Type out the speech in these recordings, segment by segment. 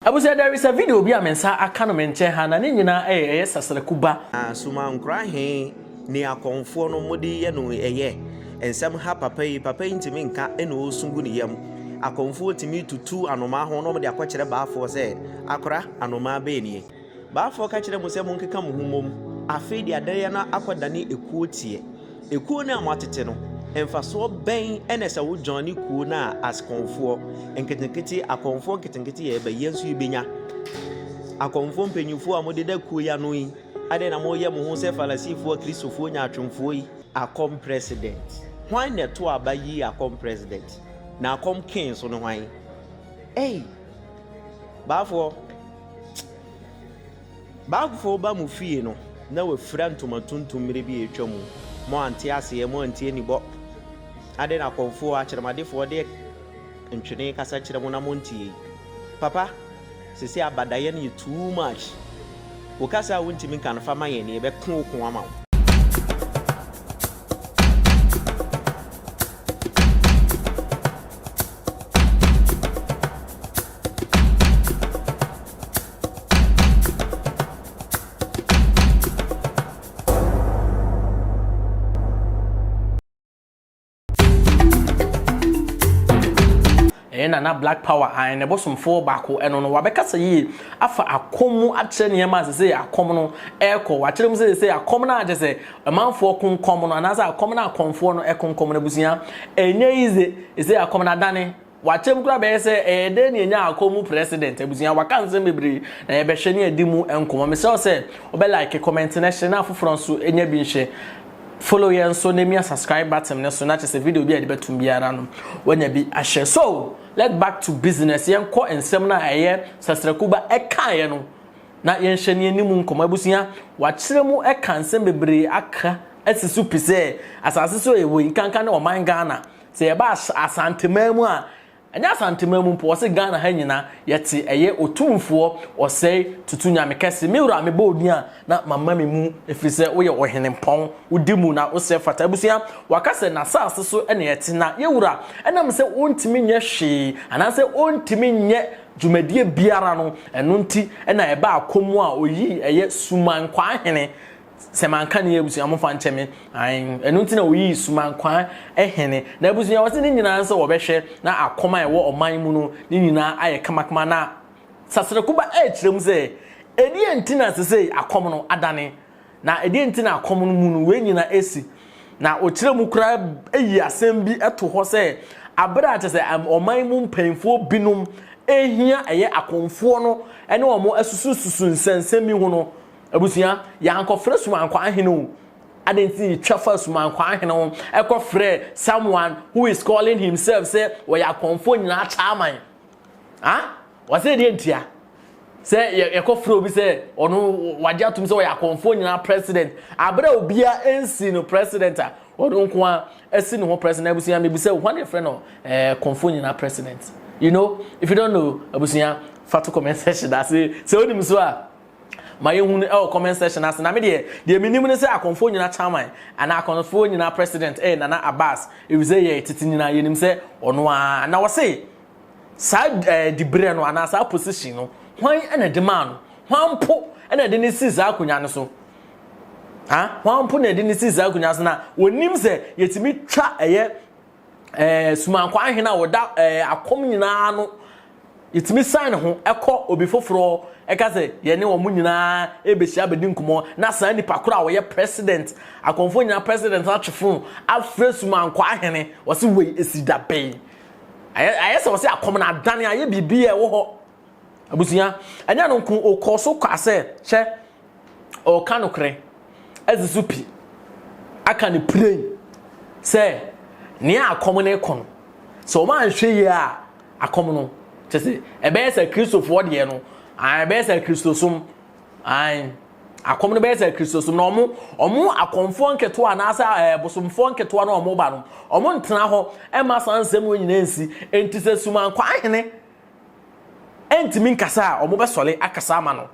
Abusua there is a video bi a me nsa aka no me nkyɛn ha na ne nyinaa ɛyɛ ɛyɛ sasraku ba. Na sumankora he ne akɔmfoɔ no mode yɛ no ɛyɛ nsɛm ha papa yi papa yi ntumi nka na ɔɔsu gu ne yam akɔmfoɔ tumi tutu anomaa ho na ɔmde akɔkyerɛ baafoɔ sɛ akora anomaa bɛɛ nie baafoɔ ka kyerɛ mo sɛ monkeka mo ho mmom afei deɛ adeɛ no akɔdane ɛkuo teɛ Ekuo no a moatete no, mfasoɔ bɛn na ɛsɛ wo joine kuo no a askɔnfoɔ nketenkete, akɔnfoɔ nketenkete yɛ ɛbɛ, yɛn nso yɛbɛnya. Akɔnfoɔ mpanyinfoɔ a mode da kuo yi ano yi, adɛn na moyɛ mo ho sɛ Farisifoɔ, Kristofoɔ, nyaatwomfoɔ yi? Akɔm president. Hwan na ɛto aba yi akɔm president? Na akɔm king so no hwan? Ei! Baafoɔ. Bagufoɔ ba mo fie no na wafira ntoma tuntum mmerɛ bi a atwa mu, mo ante aseɛ, mo antie ne bɔ. Adɛn na akɔmfoɔ, akyerɛmadefoɔ de ntwene kasa kyerɛ mo na montie? Papa, seesei abadaeɛ no yɛ too much. Wo kasa a wontumi nka no fa ma yɛn na yɛbɛko wo ko ama wo. ɛyɛ nana black power an ne bosomfoɔ baako ɛno no wabɛkasa yie afa akɔm mu akyerɛ nneɛma sɛ sɛ akɔm no ɛrekɔ wakyerɛ mu sɛ sɛ akɔm no akyɛ sɛ ɔmanfoɔ konkɔm no anaasɛ akɔm no akɔmfoɔ no ɛkonkɔm no abusua ɛnyɛ yize sɛ akɔm no adane Wakyɛm koraa bɛyɛ sɛ ɛyɛ dɛn na yɛanya akɔ mu president abusua waka nsɛm bebree na yɛbɛhwɛ ne adi mu nkɔmmɔ mesrɛ wo sɛ wobɛ like comment na hyɛ na afoforɔ nso nya bi nhyɛ follow yɛn nso na mia subscribe button ne so na kyɛ sɛ video bi a yɛde bɛtum biara no wanya bi ahyɛ so let back to business yɛn kɔ nsɛm no a ɛyɛ sasrakuba ɛkaeɛ no na yɛnhyɛ ne anim nkɔmmɔ abusua wakyerɛ mu ɛka nsɛm bebree aka asi so pi sɛ asase so ɛwɔ yi nkanka ne ɔman Ghana Sɛ yɛba Asanteman mu a, ɛnyɛ Asanteman mu mpo, wɔse Ghana ha nyina yɛte ɛyɛ Otumfoɔ Ɔsɛe Tutu Nyame Kɛse. Me wura mebɔ wo din a na mama me mu ɛfiri sɛ woyɛ Ɔhenempɔn, wodi mu na wosɛ fata. Abusua, wɔaka sɛ n'asaase so na yɛte na yɛwura ɛnam sɛ ɔntumi nyɛ hwee anaasɛ ɔntumi nyɛ dwumadie biara no, ɛno nti na ɛbaa kɔm a ɔyii ɛyɛ Suman Kwaa Hene, sɛ manka ne abusua mofa nkyɛ me an ɛno nti na wɔyii sumankwaa hene na abusua wɔ se ne nyinaa sɛ wɔbɛhwɛ na akɔm a ɛwɔ ɔman mu no ne nyinaa ayɛ kamakama na saserekoba ɛrekyerɛ mu sɛ ɛdeɛ nti na sesei akɔm no adane na ɛdeɛ nti na akɔm no mu no wei nyinaa ɛsi na ɔkyerɛ mu koraa ɛyi asɛm bi ɛto hɔ sɛ abere a kyɛ sɛ ɔman mu mpanyinfoɔ binom ɛhia ɛyɛ akɔmfoɔ no ɛne wɔn asusususu nsɛnsɛm bi ho no Abusua, yɛankɔfrɛ Sumankwaa hene o. Adɛn nti na yɛtwa fa Sumankwaa hene ho kɔfrɛ someone who is calling himself sɛ ɔyɛ akɔmfoɔ nyinaa chairman? Ah? Ɔsɛ deɛ ntia? Sɛ yɛkɔfrɛ obi sɛ ɔno wagye atom sɛ ɔyɛ akɔmfoɔ nyinaa president, abere a obia nsi no president a, ɔno nko a asi ne ho president. Abusua, mebisa o, hwan na yɛfrɛ no eh, kɔmfoɔ nyinaa president? You know, if you don't know, abusua, fa to comment section ase sɛ onim so a. Ma yɛnhu no ɛwɔ comment section ase na me deɛ deɛ menim ne sɛ akɔmfoɔ nyina chairman anaa akɔmfoɔ nyina president ɛyɛ Nana Abass efisɛ yɛ tete nyina yɛnim sɛ ɔno ara na wɔse saa ɛɛ diberɛ no anaa saa position no hwan na ɛde maa no hwan mpo na ɛde ne si saa akonnwa no so ha hwan mpo na ɛde ne si saa akonnwa so na wɔnim sɛ yɛtumi twa ɛyɛ eh, sumankɔ ahene a ɔda eh, akɔm nyinaa no yɛtumi san ne ho ɛkɔ obi foforɔ ɛka sɛ yɛne wɔn nyinaa ɛbɛhyia bɛdi nkɔmmɔ na saa nipa koro a ɔyɛ president akɔmfoɔ nyinaa president no atwe fon afrɛ sumankɔ ahene wɔse wei ɛsi da bɛn ayɛ sɛ wɔse akɔm no adane ayɛ biribi a ɛwɔ hɔ abusua ɛnyɛ no nko okɔ so kwa sɛ hwɛ ɔka nokorɛ ɛdze so pi aka ne piren sɛ nea akɔm no kɔ no sɛ wɔn anhwɛ yie a akɔm no kyɛ sɛ ɛbɛyɛ sɛ kristofoɔ deɛ no ɛbɛyɛ sɛ kristosom an akɔm no bɛyɛ sɛ kristosom na wɔn wɔn akɔmfoɔ nketewa anaasɛ ɛɛ bosomfoɔ nketewa na wɔn ba no wɔn ntena hɔ ɛma saa nsɛm wɔn nyinaa nsi nti sɛ sumankɔ ahene. ɛntumi nkasa a wɔn bɛsɔre akasa ama no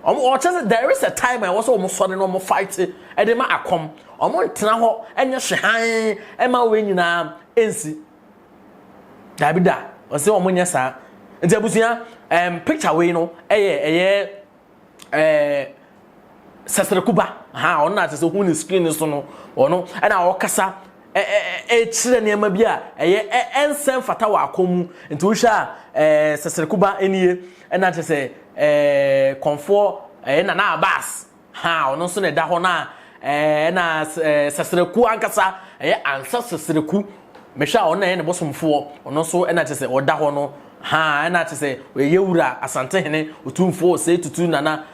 wɔn ɔkyɛ sɛ there is a time a ɛwɔ sɛ wɔn sɔre na wɔn fight ɛde ma akɔm wɔn ntena hɔ ɛnyɛ hwe hann ɛma wɔn nyinaa ɛnsi daabi da wɔn sɛ wɔn nyɛ saa nti abusua ɛm picture wei no ɛyɛ ɛyɛ. ɛɛ sɛsɛrɛkuba ha ɔno na sɛsɛ hu ne screen so no ɔno ɛna ɔkasa ɛkyerɛ nneɛma bi a ɛyɛ ɛnsɛn fata wɔ akɔn mu nti wohwɛ a ɛɛ sɛsɛrɛkuba nie ɛna kyerɛ sɛ ɛɛ kɔnfoɔ ɛyɛ nana abas ha ɔno nso na ɛda hɔ na ɛɛ na sɛsɛrɛku ankasa ɛyɛ ansa sɛsɛrɛku mehwɛ a ɔno na ɛyɛ ne bosomfoɔ ɔno nso ɛna kyerɛ sɛ ɔda hɔ no. Haa ɛna te sɛ ɔyɛ wura asantehene otumfoɔ ɔsɛe tutu nana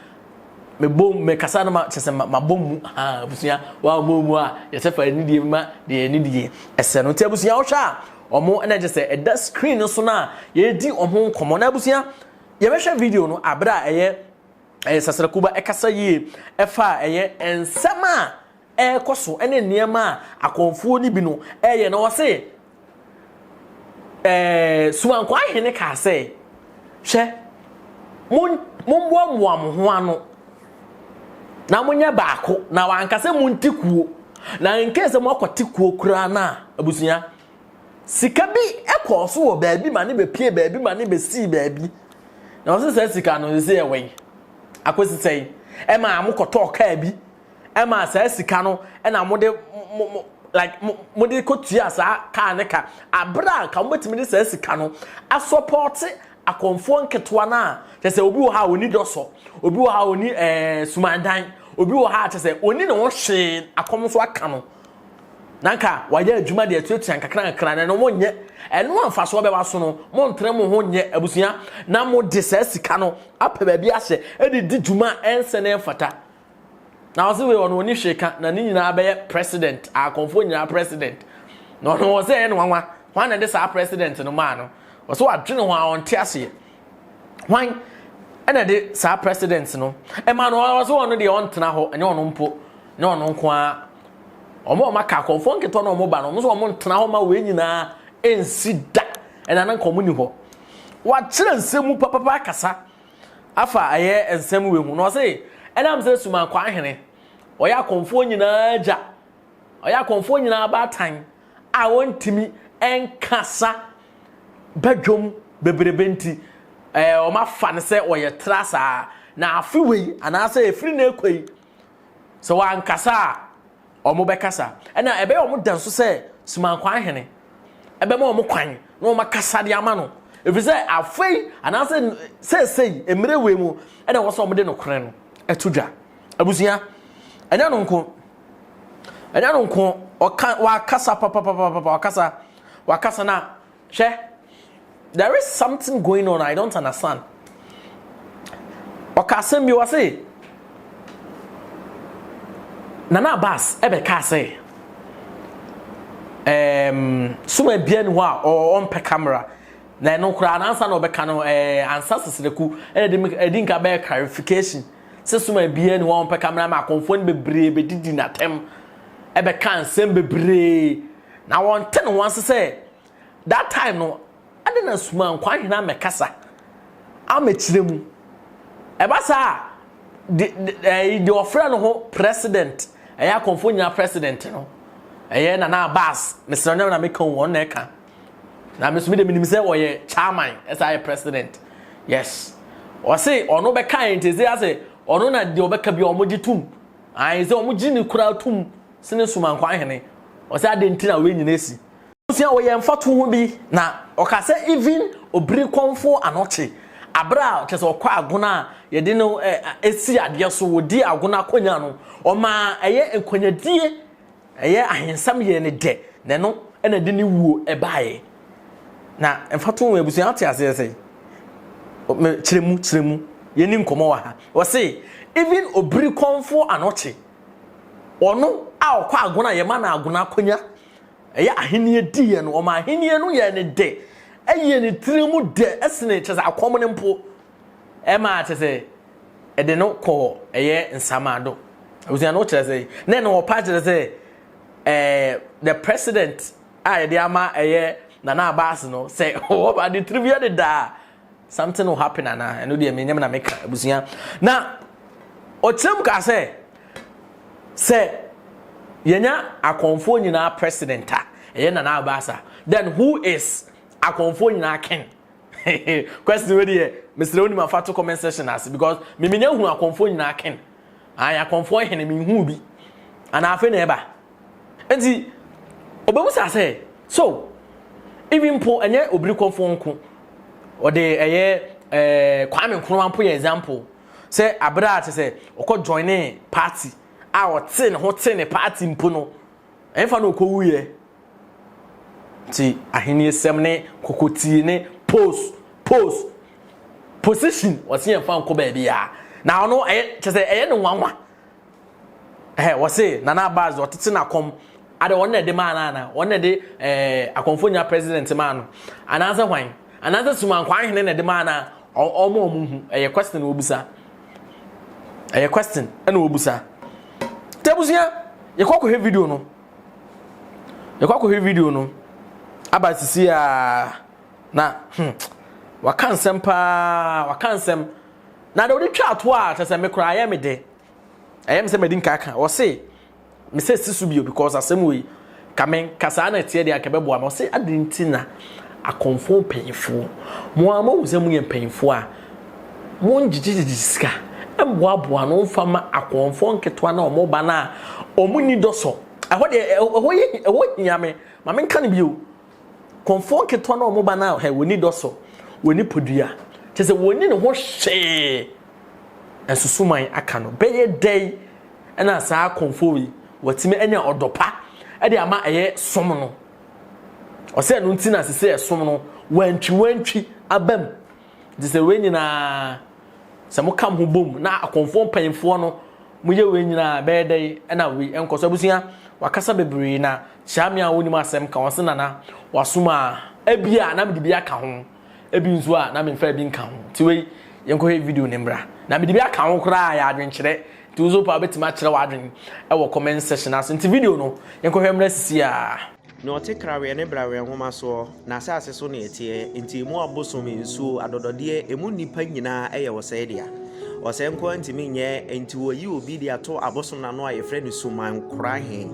mebom mekasa no ma kyɛ sɛ mabom mu haa abusua wa ɔmo mu a yɛsɛ fa anidie ma deɛ anidie ɛsɛ no nti abusua wohwɛ a ɔmo ɛna kyɛ sɛ ɛda screen no so no a yɛdi ɔmo nkɔmɔ na abusua yɛbɛhwɛ video no abere a ɛyɛ ɛyɛ sasrakuba ɛkasa yie ɛfa a ɛyɛ nsɛm a ɛrekɔ so ne nneɛma a akɔmfoɔ no bi no reyɛ na ɔse ɛɛ Sumankɔ ahene kaa sɛ hwɛ mommoamoa mo ho ano na monyɛ baako na wanka sɛ monte kuo na nkee sɛ moakɔte kuo koraa no a abusua sika bi kɔɔ so wɔ baabi ma ne bɛpie baabi ma ne bɛsii baabi na ɔse saa sika no sɛ ɛwɛn akɔsi sɛn ɛma mokɔtɔɔ kaa bi ɛma saa sika no ɛna mo de mo mo like mo mo de kɔ tua saa kaa ne ka abira a nka mo betumi de saa sika no asɔpɔte akɔnfoɔ nketewa no a kyɛ sɛ obi wɔ ha a oni dɔsɔ obi wɔ ha a oni ɛɛ eh, sumandan obi wɔ ha a kyɛ sɛ oni ne ho hwee akɔm nso aka no na nka wayɛ adwuma de atuatua nkakra nkakra na no mo nyɛ ɛno amfasoɔ bɛba so no mo ntere mo ho nyɛ abusua na mo de saa sika no apɛ baabi ahyɛ ɛde di dwuma ɛnsɛ na ɛmfata na ɔse wei ɔno ɔni hwee ka na ne nyinaa bɛyɛ president akonfoɔ nyinaa president na ɔno ɔse ɛyɛ no wanwa hwan na ɛde saa president no maa no ɔse wadwene ho a ɔnte aseɛ hwan ɛna ɛde saa president no ɛma no ɔse ɔno deɛ ɔntena hɔ ɛnyɛ ɔno mpo ne ɔno nko ara ɔmo ɔmo aka akonfoɔ nketɔ na ɔmo ba no ɔmo sɛ ɔmo ntena hɔ ma wei nyinaa ɛnsi da ɛna na nka ɔmo ni hɔ wakyerɛ nsɛm mu papapa akasa Afa ayɛ nsɛm wei ho, na ɔse, ɛnam sɛ Suman Kwanhene, ɔyɛ akɔmfoɔ nyinaa agya, ɔyɛ akɔmfoɔ nyinaa abaatan a ɔntumi nkasa badwam bebrebe nti, ɛɛ, wɔafa no sɛ ɔyɛ tra saa. Na afe wei, anaasɛ ɛfiri na ɛkɔ yi, Sɛ wɔankasa a, wɔbɛkasa. Ɛna ɛbɛyɛ wɔn da nso sɛ Sumankwan Hene ɛbɛma wɔn kwan na wɔn akasa de ama no. Ɛfiri sɛ afei anaasɛ seesei mmerɛ wei mu ɛna wɔsɛ wɔn de nokorɛ no ɛto dwa. Abusua, ɛnyɛ no nko. Ɛnyɛ no nko. Ɔka, wakasa papapapapa, wakasa, wakasa na Hwɛ, there is something going on I don't understand. Ɔka asɛm bi wɔ se, Nana Abbas ɛbɛka sɛ, um, soma bia ni hɔ a ɔmpɛ camera na ɛno koraa nansa na ɔbɛka no eh, ansa sesrɛku ɛdi nka bɛyɛ clarification sɛ soma bia ni hɔ a ɔmpɛ camera ma akɔmfoɔ no bebree bɛdidi n'atɛm ɛbɛka nsɛm bebree Na wɔnte ne ho ase sɛ that time no ɛde na suma nkwanhena amɛkasa amɛkyerɛ mu. Ɛba saa a de ɛyi de ɔfrɛ no ho president ɛyɛ akɔmfo nyinaa president no ɛyɛ Nana Abass mesrɛ ɔnyɛ na meka wɔn na ɛka na me so me de menim sɛ ɔyɛ chairman ɛsɛ ayɛ president yes ɔse ɔno bɛka yɛn nti ɛsɛ ase ɔno na deɛ ɔbɛka bi ɔmo gye tum ayɛ sɛ ɔmo gye ne kura tum Sene sum ankwan hene. Ɔsɛ adɛn nti na wei nyina asi. Abusua wɔyɛ mfatoho bi na ɔka sɛ even obiri kɔmfoɔ ano kye abere a kyɛ sɛ ɔkɔ agono a yɛde no si adeɛ so wɔdi agono akonya no ɔmaa ɛyɛ nkwanyadie ɛyɛ ahensɛm yɛɛ no dɛ na ɛno na ɛde ne wuo baeɛ na mfatoho wɔ abusua ate aseɛ sɛ kyerɛ mu kyerɛ mu yɛni nkɔmɔ wɔ ha ɔse even obiri kɔmfoɔ ano kye Ɔno a ɔkɔ agona a yɛma no agona akonya, ɛyɛ ahenni diiɛ no, ɔma ahenni no yɛ ne dɛ, ɛyɛ ne tiri mu dɛ sene kyɛ sɛ akɔm no mpo, ɛma kyɛ sɛ ɛde no kɔ ɛyɛ nsamado. Abusua no kyerɛ sɛ, na ɛne ɔpa kyerɛ sɛ ɛɛ the president a yɛde ama ɛyɛ Nana Abass no sɛ ɔba de tiri mu yɛ ne dɛ a, something will happen ana ɛno deɛ menyam na meka abusua na ɔkyerɛ mu kaa sɛ sɛ yɛnya akɔnfoɔ nyinaa president a ɛyɛ nana abasa then who is akɔnfoɔ nyinaa ken question wei deɛ mesrɛ wo nim afa to comment section ase because memenya hu akɔnfoɔ nyinaa ken Ae, akɔmfoɔ hene, menhuu bi, anaa afei na ɛreba? Enti, ɔbɛbisa sɛ, So, even mpo, ɛnyɛ obirikɔmfoɔ nko, ɔde ɛyɛ ɛɛ Kwame Nkrumah mpo yɛ example, sɛ abere a kyɛ sɛ ɔkɔ joine party a ɔte ne ho te ne party mpo no, ɛmfa na ɔkɔwuiɛ. Nti ahenniesɛm ne kokotie ne pos pos position wɔse yɛmfa nkɔ baabiaa na ɔno ɛyɛ kyɛ sɛ ɛyɛ ne nwanwa ɛhɛ wɔse Nana Abbas ɔtete n'akɔm ade wɔn na ɛde maa no ana wɔn na ɛde ɛɛ akɔmfo nya president maa no anaasɛ hwan anaasɛ sumankwa ahene na ɛde maa no a ɔmo a ɔmo hu ɛyɛ question na wɔbusa ɛyɛ question ɛna wɔbusa tɛbusua yɛkɔ kɔhwɛ video no Yɛkɔ akɔhwɛ video no. Aba sisi a na hmm, waka nsɛm paa, waka nsɛm. Na deɛ ɔde twa ato a kyɛ sɛ me koraa ayɛ me de. Ɛyɛ me sɛ madi nka ka. Ɔse, me sɛ si so bio because asɛm wei, ka me kasaa na ɛteɛ deɛ anka ɛbɛboa me. Ɔse, adɛn nti na akɔmfo mpanyinfoɔ, mo a moahu sɛ moyɛ mpanyinfoɔ a, Mongyegyegyegye sika mboaboa ano mfa mma akɔmfoɔ nketewa no a wɔreba no a wɔnni dɔ so. Ɛhɔ deɛ, ɛhɔ yɛ, ɛhɔ hia me. Ma menka no bio. Kɔmfoɔ nketewa no a wɔreba no a, hɛ, wɔnni dɔ so, wɔnni podua. Kyerɛ sɛ, wɔnni ne ho hwee. Nsusuman aka no. Bɛyɛ dɛn na saa kɔmfoɔ wei watumi anya ɔdɔ pa de ama ɛyɛ som no? Ɔsɛ ɛno nti na sese ɛsom no, wantwiwantwi aba mu. Nti sɛ wei nyinaa sɛ mo kam ho bom na akɔnfoɔ mpanyinfoɔ no mo yɛ wei nyinaa bɛyɛ dɛ ɛna wei ɛnkɔ so abusua wakasa bebree na kyia me a wɔnim asɛm ka wɔn se nana wasom a ebi a na mede bi aka ho ebi nso a na memfa ebi nka ho ti wei yɛnkɔhwɛ video ne mbra na mede bi aka ho koraa yɛ adwenkyerɛ nti nso pa wobɛtumi akyerɛ w'adwen ɛwɔ comment section ase nti video no yɛnkɔhwɛ mmra sisi a. Nea ɔte krawee ne brawee nwoma soɔ, n'asase so na ɛteɛ, enti emu abosom, nsuo, adɔdɔdeɛ, emu nnipa nyinaa yɛ ɔsɛe dea. Ɔsɛe nko ara ntumi nyɛ, enti wɔyi obi de ato abosom no ano a yɛfrɛ no Sumankora he.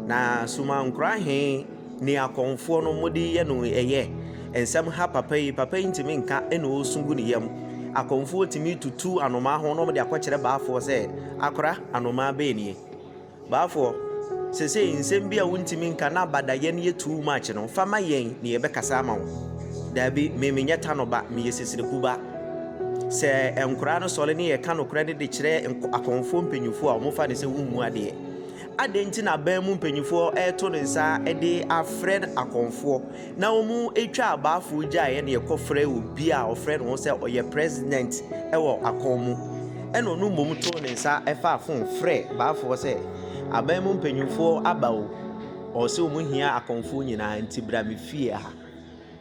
Na Sumankora he ne akɔmfoɔ no mode yɛ no ɛyɛ. Nsɛm ha papa yi, papa yi ntumi nka na ɔsu gu ne yam. Akɔmfoɔ tumi tutu anomaa ho na wɔde akɔkyerɛ baafoɔ sɛ, Akora, anomaa bɛn nie? Baafoɔ, sesei nsɛm bi a wontumi nka na abadayɛ no yɛ too much no, fa ma yɛn na yɛbɛkasa ama wo. Daabi, me menyɛ Tano ba, meyɛ Sesreku ba. Sɛ nkoraa no sɔre ne yɛka nokorɛ no de kyerɛ akɔmfoɔ mpanyinfoɔ a, wɔfa no sɛ wommu adeɛ. Adɛn nti na aban mu mpanyinfoɔ reto ne nsa de afrɛ akɔmfoɔ na wɔtwa abaafo gyaeɛ na yɛkɔfrɛ obi a ɔfrɛ ne ho sɛ ɔyɛ president wɔ akɔn mu ɛna ɔno mmom too ne nsa ɛfaa fon frɛ baafoɔ sɛ aban mu mpanyinfoɔ aba o ɔwɔ sɛ wɔn hia akɔnfoɔ nyinaa nti bra me fie ha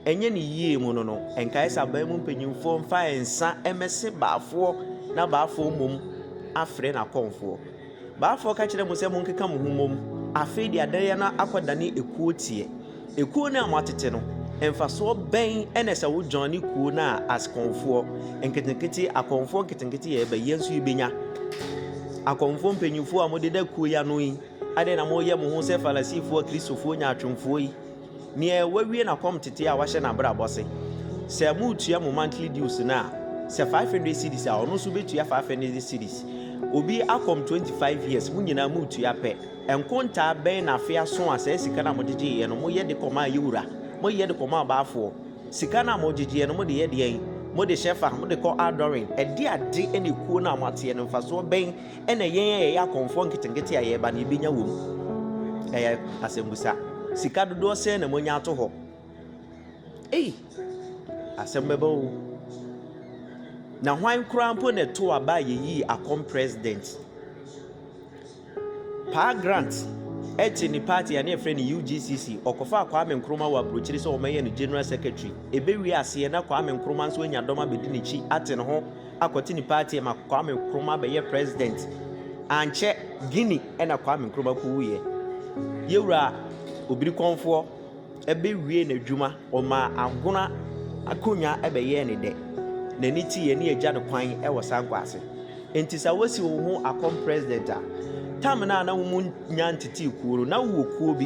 ɛnyɛ ne yie mu no no nkae sɛ aban mu mpanyinfoɔ mfa nsa ɛmɛse baafoɔ na baafoɔ mmom afrɛ n'akɔnfoɔ Baafoɔ ka kyerɛɛ mo sɛ monkeka mo ho mmom, afei de adɛreɛ no akɔdane ekuo teɛ. Ekuo no a moatete no, mfasoɔ bɛn na ɛsɛ wo John ne kuo no a askonfoɔ nketenkete, akɔmfoɔ nketenkete yɛ ɛbɛ yɛ nso yɛbɛnya? Akɔmfoɔ mpanyinfoɔ a modeda kuo yi ano yi, adɛn na moyɛ mo ho sɛ Farisifoɔ, Kristofoɔ nyaatwomfoɔ yi? Nea wawie n'akɔm tete a wahyɛ n'abrabɔ se, Sɛ moretua mo monthly dues no a, sɛ five hundred cedis a, ɔno nso betua five hundred cedis. Obi akɔm twenty five years, mo nyinaa moretua pɛ. Nkontaa bɛn na afe aso a saa sika no a mogyegyeeɛ no, moyɛ de kɔmaa yɛn wura? Moyɛ de kɔmaa ɔbaafoɔ? Sika no a mogyegyeeɛ no, mode yɛ deɛn? Mode hyɛ fa? Mode kɔ adɔre? Ɛdeade na ekuo no a moateɛ no, mfasoɔ bɛn na yɛn a yɛyɛ akɔmfoɔ nketenkete a yɛreba no yɛbɛnya wɔ mu? Ɛyɛ asɛmbusa. Sika dodoɔ sɛn na moanya ato hɔ? Ei, asɛm bɛba o. Na hwan koraa mpo na ɛto aba a yɛyii akɔm president? Paa Grant ɛte ne party a ne yɛfrɛ no UGCC, ɔkɔfaa Kwame Nkrumah wɔ aburokyiri sɛ wɔmɛyɛ no general secretary. Ɛbɛwie aseɛ na Kwame Nkrumah nso anya dɔm abɛdi n'akyi ate ne ho akɔte ne party ma Kwame Nkrumah bɛyɛ president. Ankyɛ Guinea ɛna Kwame Nkrumah kowuiɛ. Yɛwura Obirikɔnfoɔ ɛbɛwie n'adwuma, ɔmaa Agona akonnwa ɛbɛyɛɛ ne dɛ. N'ani te yɛ ne agya no kwan ɛwɔ Sankwa ase. Nti sa wasi wo ho akɔm president a, tam no a na wo mu nya ntetee kuo no, na wo wɔ kuo bi.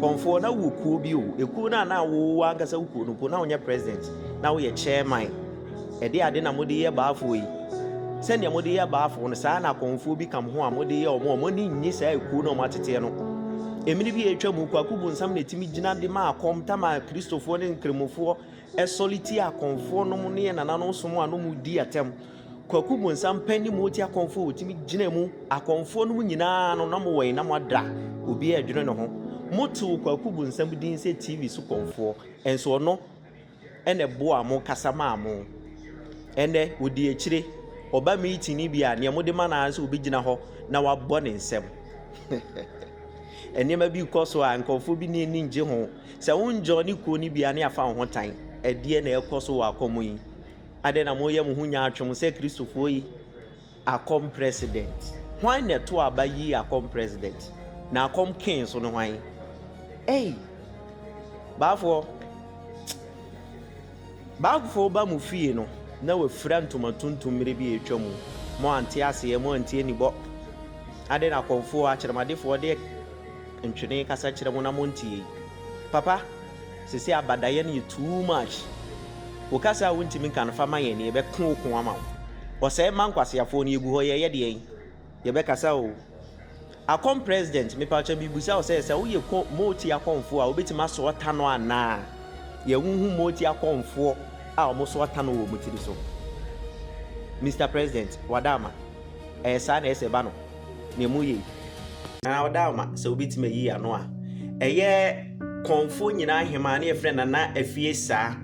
Kɔnfoɔ, na wo wɔ kuo bi o. Ekuo no a na wo wɔ ankasa wo kuo no mpo, na wo nyɛ president, na wo yɛ chairman. Ɛde ade na mode yɛ baafoɔ yi? Sɛdeɛ mode yɛ baafoɔ no, saa na akɔmfoɔ bi kam ho a mode yɛ wɔn a wɔn ani nnye saa ekuo no a wɔateteɛ no. Mmere bi a atwa mu, kwaku bonsam na ɛtumi gyina de ma akɔm tam a Kristofoɔ ne Nkramofoɔ sɔre tia akɔmfoɔ nom ne yɛ nananom som a nom di atɛm. Kwaku bonsam pɛ ne mu ɔte akɔmfoɔ a ɔtumi gyina mu. Akɔmfoɔ nom nyinaa no, na mowɔ yi na moada obiara adwene ne ho. Motew kwaku bonsam din sɛ TV so kɔmfoɔ, nso ɔno na ɛboaa mo kasa maa mo. Ɛnnɛ, odi akyire. Ɔba meeting no bi a, nea mode ma no ara ne sɛ obegyina hɔ na wabɔ ne nsam. Nneɛma bi kɔ so a, nkurɔfoɔ bi ne ani ngye ho. Sɛ wonjɔ ne kuo no bi a, ne afa wo ho tan. Ɛdeɛ na ɛkɔ so wɔ akɔm yi? Adɛn na moyɛ mo ho nyaatwom sɛ Kristofoɔ yi? Akɔm President. Hwan na ɛtoo aba yii Akɔm President? Na Akɔm King nso ne hwan? Ei! Baafoɔ! Baafoɔ ba mo fie no na wafira ntoma tuntum mmerɛ bi a atwa mu. Mo ante aseɛ, mo antie ne bɔ. Adɛn na Akɔmfoɔ akyerɛmadefoɔ de ntwene kasa kyerɛ mo na monteɛ yi? Papa! Sesei abadaeɛ no yɛ too much. Wo kasa a wontimi nka no fa ma yɛn no yɛbɛko wo ko ama wo. Ɔsɛe mma nkwaseafoɔ no yɛgu hɔ yɛɛyɛ deɛn? Yɛbɛkasa oo. Akɔm president mepakyɛ mebusa wo sɛ sɛ woyɛ kɔ moti akɔmfoɔ a wobɛtimi asoa tano anaa? Yɛn wo hu moti akɔmfoɔ a wɔn soa tano wɔ wɔn tiri so. Mister president wada ama. Ɛyɛ saa na ɛsɛ ba no. na emu ye na ɔda ama sɛ wobɛtumi ayi ano a. Ɛyɛ kɔnfoɔ nyinaa hemaa ne yɛfrɛ Nana Afie saa.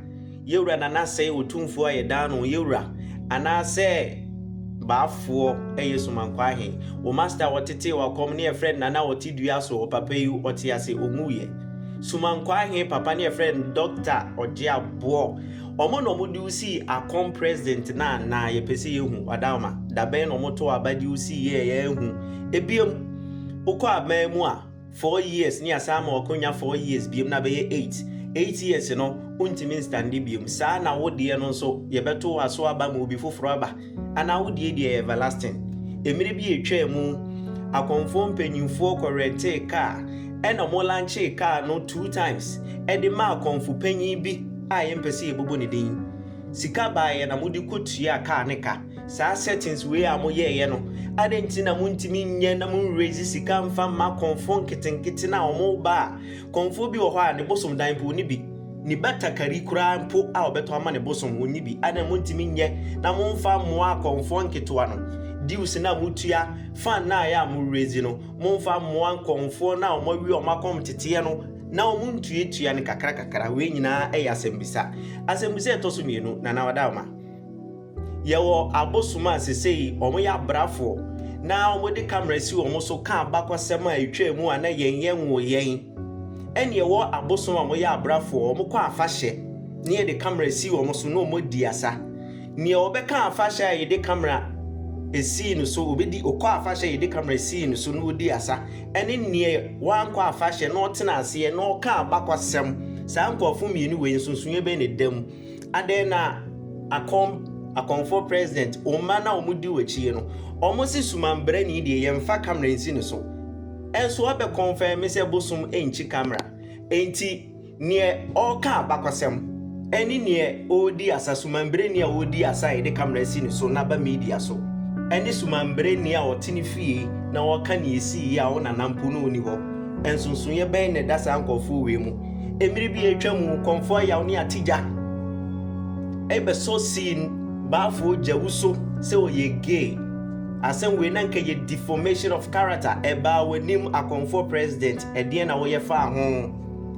Yɛwura Nana sɛ ɔtumfoɔ a yɛdaa no yɛwura anaasɛ baafoɔ ɛyɛ Sumankɔ ahe. Wo masta wɔtetee wakɔm ne yɛfrɛ Nana ɔte dua so ɔpapa yi ɔte ase ɔnwuiɛ. Sumankɔ ahe papa ne yɛfrɛ Dɔkta Ɔgyeaboɔ. Ɔmo na ɔmo de wo sii akɔm president no anaa yɛpɛ sɛ yɛhu Ɔdaoma dabɛn na ɔmo too aba de wo sii yɛ yɛahu ɛbiom wokɔ aban mu a four years ne yɛasan ama wakonya four years biom na abɛyɛ eight eight years no wontumi nstande biom saa na wo deɛ no nso yɛbɛto wo aso aba ma obi foforo aba Anaa wo deɛ deɛ ɛyɛ everlasting. Mmerɛ bi a ɛtwaa mu, akɔmfoɔ mpanimfoɔ kɔ rɛntee kaa ɛna wɔn lankyee kaa no two times de maa kɔmfo panyin bi a yɛmpɛ sɛ yɛbobɔ ne din. Sika baeɛ na wɔde kɔ tuaa kaa no ka. Saa settings wei a moyɛeɛ no, adɛn nti na montumi nyɛ na mo raise sika mfa mma akɔmfoɔ nketenkete no a wɔba a Kɔmfoɔ bi wɔ hɔ a ne bosom dan mpo ɔnni bi, ne batakari koraa mpo a ɔbɛtɔ ama ne bosom ɔnni bi. Adɛn montumi nyɛ na momfa mmoa kɔmfoɔ nketewa no, dues no a motua, fine no a ɛyɛ a mo raise no, momfa mmoa kɔmfoɔ no a wɔawe wɔn akɔm teteɛ no na wɔntuatua no kakra kakra. Wei nyinaa yɛ asɛmmisa. Asɛmmisa a ɛtɔ so mmienu, Nana Ɔdaoma. Yɛwɔ abosom a sesei wɔyɛ abrafoɔ na wɔde camera si wɔn so ka abakɔsɛm a ɛtwaa mu a na yɛn yɛn nwoo yɛn. Ɛne yɛwɔ abosom a wɔyɛ abrafoɔ wɔn kɔ afahyɛ na yɛde camera si wɔn so na wɔn di asa. Neɛ ɔbɛka afahyɛ a yɛde camera sii no so ɔbɛdi ɔkɔ afahyɛ a yɛde camera sii no so na ɔdi asa ɛne neɛ wankɔ afahyɛ na ɔtena aseɛ na ɔka abakɔsɛm saa nkorɔfoɔ mmienu wei nsonsonoɛ bɛn na ɛda mu? Adɛn na akɔm akɔmfoɔ president wo mma no a wɔn di w'akyi yi no wɔn se sumanbrani deɛ yɛn fa camera nsi ne so ɛnso abɛ confirm sɛ bosom nkyi camera enti neɛ ɔreka abakɔsɛm ɛne neɛ ɔredi asa sumanbrani a ɔredi asa a yɛde camera si ne so na ba media so ɛne sumanbrani a ɔte ne fie na ɔreka neɛ ɛsii yi a wo nana mpo na ɔni hɔ nsonsonoeɛ bɛn na ɛda saa nkɔfoɔ wei mu. Mmere bi a atwa mu, kɔmfo ayaw ne atigya rebɛsɔ Siin baafo gyawu so sɛ ɔyɛ gay. Asɛm wei na anka ɛyɛ deformation of character, ɛbaa w'anim akɔmfoɔ president, ɛdeɛn na woyɛ faa ho?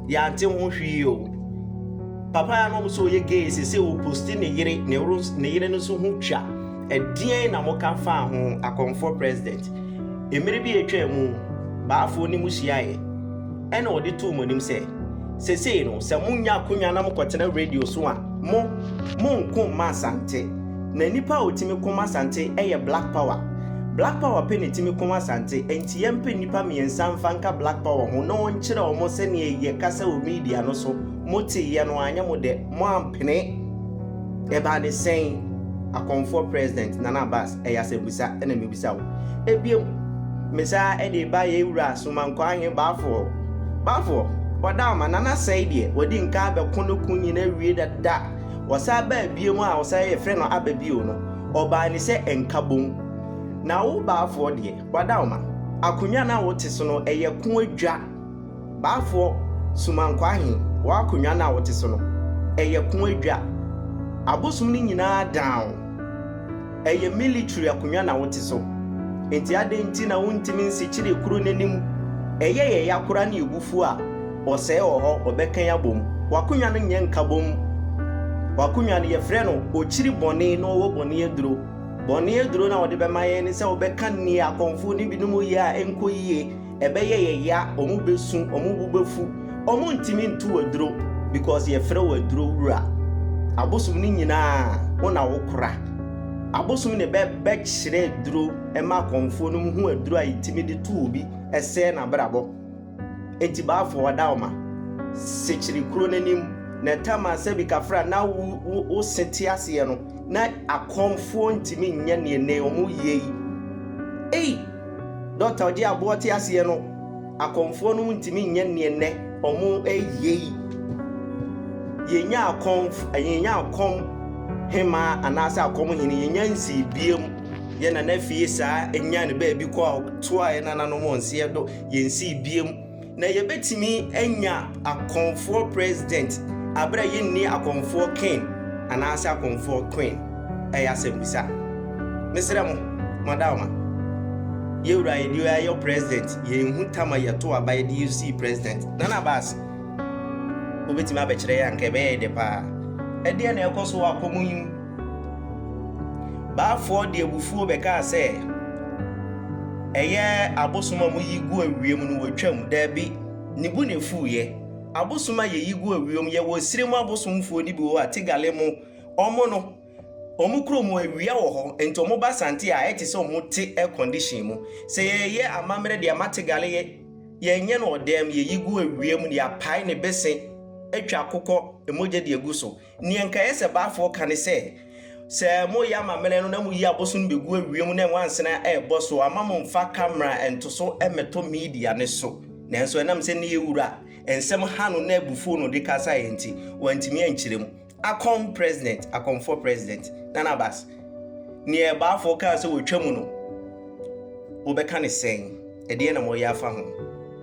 Yɛante ho hwee o. Papa a na ɔmo sɛ ɔyɛ gay sese ɔposti ne yere, ne woro, ne yere no nso ho twa, ɛdeɛn na mo ka faa ho akɔmfoɔ president? Mmere bi a atwa mu, baafo ne mo hyiaeɛ. Ɛnna ɔde too mo anim sɛ, Seesei no, sɛ monya akonya na mokɔtena radio so a, mo, monnko mma Asante. Na nnipa a wɔtumi ko ma Asante yɛ Black Power. Black Power pɛ na ɛtumi ko Asante, enti yɛmpɛ nnipa mmiɛnsa mfa nka Black Power ho na wɔnkyerɛ wɔn sɛdeɛ yɛkasa wɔ media no so. Moteeɛ no, anyɛ mo dɛ, moampene. Ɛbaa ne sɛn? Akɔmfoɔ President, Nana Abass. ɛyɛ asɛmbisa na mibisa wo. Ebia mu, me saa de ba yɛn wura Somankwa Ahe Baafoɔ. Baafoɔ, wɔda ama Nana sɛi deɛ wadi nkaa bɛko no ko nyina awie dada. Wɔsaa baa biom a wɔsaa yɛ frɛ no aba bio no, ɔbaa ni sɛ Nkabom. Na wo Baafoɔ deɛ, wɔda ama, akonwa no a wo te so no ɛyɛ ko adwa. Baafoɔ, Sumankwaa he, w'akonnwa no a wote so no, ɛyɛ ko adwa. Abosom no nyinaa down. Ɛyɛ military akonnwa na wote so. Nti adɛn nti na wontumi nsekyere kuro no anim? Ɛyɛ yɛ ya koraa ne yɛ bo fu a, ɔsɛe wɔ hɔ, ɔbɛkan abom. W'akonnwa no nyɛ nkabom. W'akonnwa no, yɛfrɛ no Okyiri Bɔne na ɔwɔ Bɔne Aduro. Bɔne aduro no a wɔde bɛma yɛn ne sɛ wobɛka nea akɔmfoɔ no binom yɛ a ɛnkɔ yie, Ɛbɛyɛ yɛ ya, ɔmo bɛsu, ɔmo bo bɛfu, ɔmo ntumi nto wo aduro because yɛfrɛ wo aduro wura. Abosom no nyinaa wo na wo kora. Abosom na ɛbɛ bɛ kyerɛ aduro ɛma akɔmfoɔ nom hu aduro a yɛtumi de to obi ɛsɛɛ n'abrabɔ. Enti Baafo Ɔdaoma, Sekyere kuro no anim na ɛtam a sɛbi kafra na wo wo wo se te aseɛ no na akɔmfoɔ ntumi nyɛ neɛ nɛ ɔmo yɛ yi. Ei! Dɔkta a ɔgye aboɔ te aseɛ no, akɔmfoɔ no ntumi nyɛ neɛ nnɛ ɔmo ɛyɛ yi. Yɛnnya akɔm, yɛnnya akɔm hemaa anaasɛ akɔm hene, yɛnnya nsii biam. Yɛ nana fie saa, ɛnyaa ne baabi kɔ a, toa yɛ nananom ɔnseɛ do, yɛnsii biam. Na yɛbɛtumi anya akɔmfoɔ president aberɛ a yɛnni akɔmfoɔ king anaasɛ akɔmfoɔ queen? Ɛyɛ asɛmmisa. Mesrɛ mo, mo adaoma, yɛwura a yɛde ayɔ president, yɛnhu tam a yɛto aba yɛde yɛ sii president. Nana Abass, wobɛtumi abɛkyerɛ yɛn a, anka ɛbɛyɛ yɛ dɛ paa. Ɛdeɛn na ɛrekɔ so wɔ apɔmuden mu? Baafoɔ de abufuo bɛkaa sɛ, Ɛyɛ abosom a moyi gu ewiem no wɔtwam? Dabi, ne bo na ɛfuiɛ. Abosom a yɛyi gu ewiem, yɛwɔ esire mu abosomfoɔ no bi wɔ hɔ a, Tigale mu, wɔn no, wɔn kurom hɔ awia wɔ hɔ, nti wɔba Asante a, ayɛ te sɛ wɔn te air condition mu. Sɛ yɛreyɛ amammerɛ de ama Tigale yɛ, yɛnyɛ no ɔdɛm, yɛyi gu ewiem na yɛapae ne bese atwa akokɔ mogya de agu so. Nea nka ɛyɛ sɛ Baafoɔ ka ne sɛ, Sɛ moreyɛ amammerɛ no na moyi aboso no bɛgu awiɛ mu na nwansena rebɔ so a, mma mommfa kamera ntoso mmɛtɔ media no so. Nanso ɛnam sɛ ne yɛ wura nsɛm ha no na abufuo na ɔde kasaeɛ nti, wantumi ankyerɛ mu. Akon President, Akonfoɔ President, Nana Abass, nea Baafoɔ kaa sɛ wɔtwa mu no, wobɛka no sɛn? Ɛdeɛn na moreyɛ afa ho?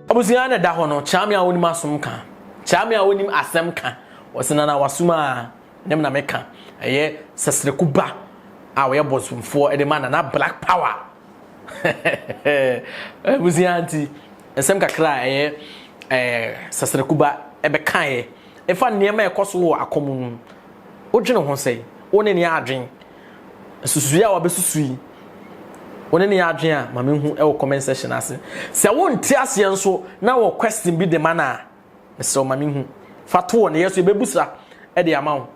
Abusua na ɛda hɔ no, kyerɛ me a wonim asom ka, kyerɛ me a wonim asɛm ka. Ɔse na na wasum aa na me na me ka ɛyɛ sɛsrɛku ba a ɔyɛ bɔsomfoɔ de ma nana black power hehehehe abusua nti nsɛm kakra a ɛyɛ ɛɛ sɛsrɛku ba ɛbɛkaeɛ ɛfa nneɛma a ɛkɔ so wɔ akɔ mu no wodwene ho sɛn wo ne ne adwen nsusuiɛ a wabɛsusu yi wo ne ne adwen a ma mehu ɛwɔ comment section ase sɛ wonte aseɛ nso na wɔ question bi de ma no a Mesrɛ wo ma me hu. Fa to hɔ na yɛ so yɛbɛbu sa de ama wo.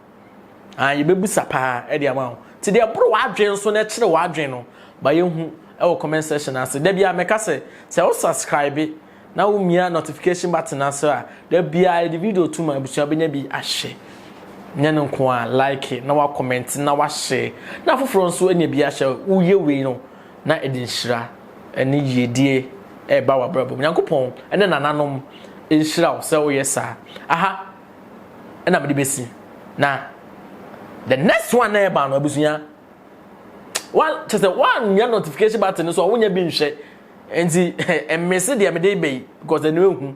Ah, yɛbɛbu sa paa de ama wo. Nti deɛ ɛboro w'adwene so na ɛkyerɛ w'adwene no, ma yɛhu wɔ comment section ase. Da biara mɛka sɛ, sɛ wo subscribe na wo mia notification button ase a, da biara yɛde video to ma abusua bɛnya bi ahwɛ. Nyɛ no nko a, like na wa comment na wa share na afoforɔ nso anya bi ahwɛ. Woyɛ wei no, Na ɛde nhyira ne yiedie reba w'abrabɔ mu. Nyankopɔn ne nananom nhyira wo sɛ woyɛ saa. Aha na mede bɛsi. Na the next one na ɛba no abusua. Wa kyɛ sɛ woanyɛ notification button no so a wonyɛ bi nhwɛ. Nti mmese deɛ mede ba yi because ɛno ehu.